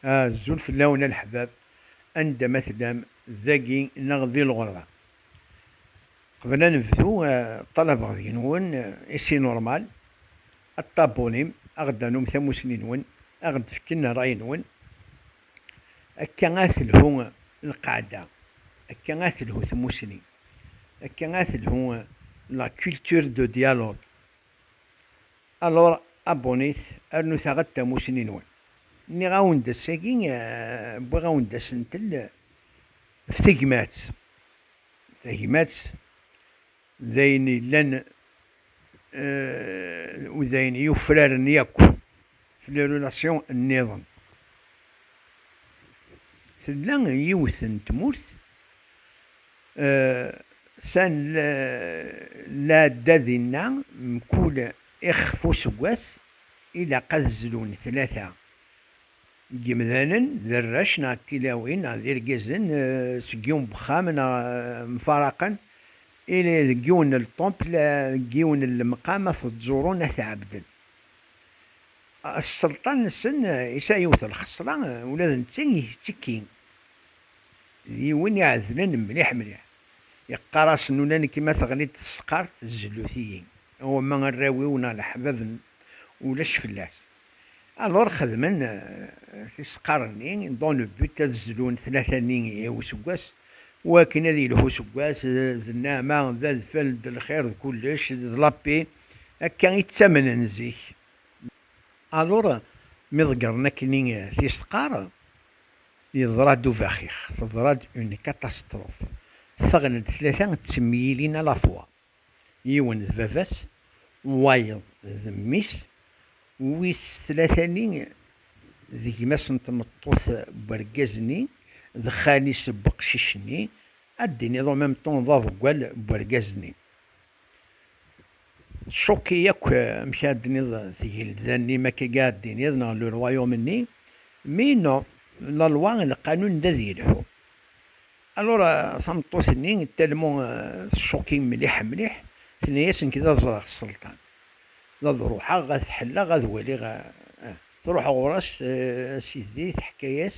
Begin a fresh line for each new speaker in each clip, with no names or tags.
Azul fell-awen a leḥbab, anda ma tellam, dagi neɣ di lɣerba. Qbel ad nebdu, ṭṭalabeɣ deg-nwen, et c'est normal, ad ṭabunim, a ɣ-d-tanum tamusni-nwen, a ɣ-d-fken rray-nwen. Akka a telhu lqaɛda, akka a telhu tmusni, akka a telhu la culture de dialogue. Alors abonnez rnut aɣ-d tamusni-nwen. Nniɣ-awen-d ass-agi wwiɣ-awen-d asentel f tegmat. Tagmat d ayen yellan d ayen yufraren yakk f les relations nniḍen. Tella yiwet n tmurt. Ssan lɛadda dinna mkul ixef useggas ilaq ad zlun tlata n yimdanen d arrac neɣ d tilawin neɣ d irgazen seg yiwen n wexxam neɣ mfaraqen ili deg yiwen n lṭempel deg yiwen n lemqam ad t-ẓurun ad t-ɛebden. Sselṭan-nsen yesɛa yiwet n lxesra ula d netta ittekki. D yiwen iɛedlen mliḥ mliḥ. Iqqar-as nulan-k ma teɣli-d tesqart zlu-t-iyi, wamma arraw-iw neɣ leḥbab-n ulac fell-as. Alur xedmen tisqar-nni dans le but ad zlun tlata-nni i useggas, wakken ad yelhu useggas d nneɛma, d adfel, d lxir, d kullec, d la paix. Akka i ttamnen zik. Alur mi ḍeggren akkenni tisqar. Yeḍra-d ubaxix, teḍra-d une catastrophe, ffɣen-d tlata ttemyilin à la fois, yiwen d baba-s, wayeḍ d mmi-s, wis tlata-nni d gma-s n tmeṭṭut n wergaz-nni, d xali-s n weqcic-nni, ad d-tiniḍ en même temps d aḍeggal n wergaz-nni. Tcukki yakk amek ara d-tiniḍ tgelda-nni makk agi ara d-tiniḍ neɣ le royaume-nni, mais non, la loi et le qanun d ad yelḥu. Alors tameṭṭut-nni tellement tcukki mliḥ mliḥ, tenna-yas nekk d ad ẓreɣ sselṭan, d ad ruḥeɣ ad t-ḥelleɣ ad waliɣ ah. Truḥ ɣur-s, a sidi, teḥka-yas.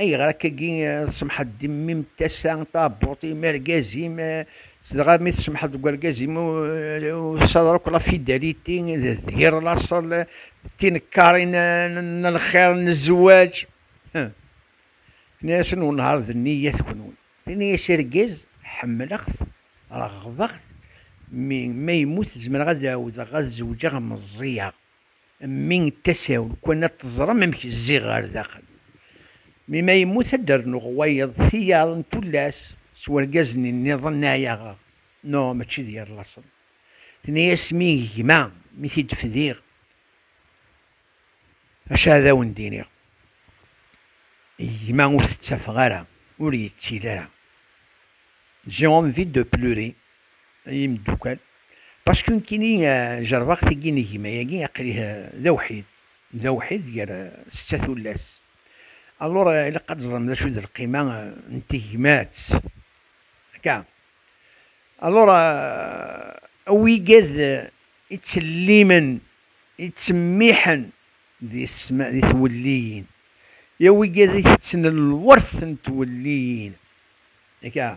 Ayɣer akkagi tsemḥeḍ d mmi-m tasa taɛebbuḍt i argaz-im, dɣa mi tsemḥeḍ deg urgaz-im usaḍar akk la fidalité d yir laṣel d tinekkarin n lxir n zzwaǧ? Huh! Tenna-yasen unhar d nniyat kunwi. Tenna-yas argaz ḥemmleɣ-t reɣbeɣ-t mi ma yemmut zemreɣ ad ɛawdeɣ ad zewǧeɣ meẓẓiyeɣ. Mmi n tasa-w, lukan ad teẓrem amek zziɣ ɣer daxel. Mi ma yemmut ad d-rnuɣ wayeḍ, tiyaḍ, n tullas s wergaz-nni nniḍen n ɛyaɣeɣ, no mačči d yir laṣel. Tenna-yas mmi n gma, mi t-id-fdiɣ, acu ad awen-d-iniɣ, gma ur t-ttafeɣ ara, ur yettili ara. J'ai envie de pleurer, Ay imeddukkal, pasku nekkini jerbeɣ tigi n gma-agi, aql-i d awḥid, d awḥid gar setta tullas. Alur ilaq ad teẓrem d acu d lqima n tegmat, akka? Alur, awigad ittellimen, ittemmiḥen di twelliyin, i awigad itetten lwert n twelliyin, akka?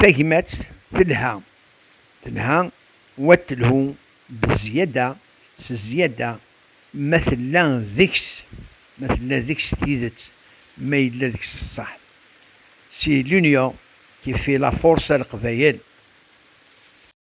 Tagmat telha, telha wa telhu bezziyada s zziyada ma tella deg-s, ma tella deg-s tidet, ma yella deg-s ṣṣeḥ. Si l'union qui fait la force à Leqbayel.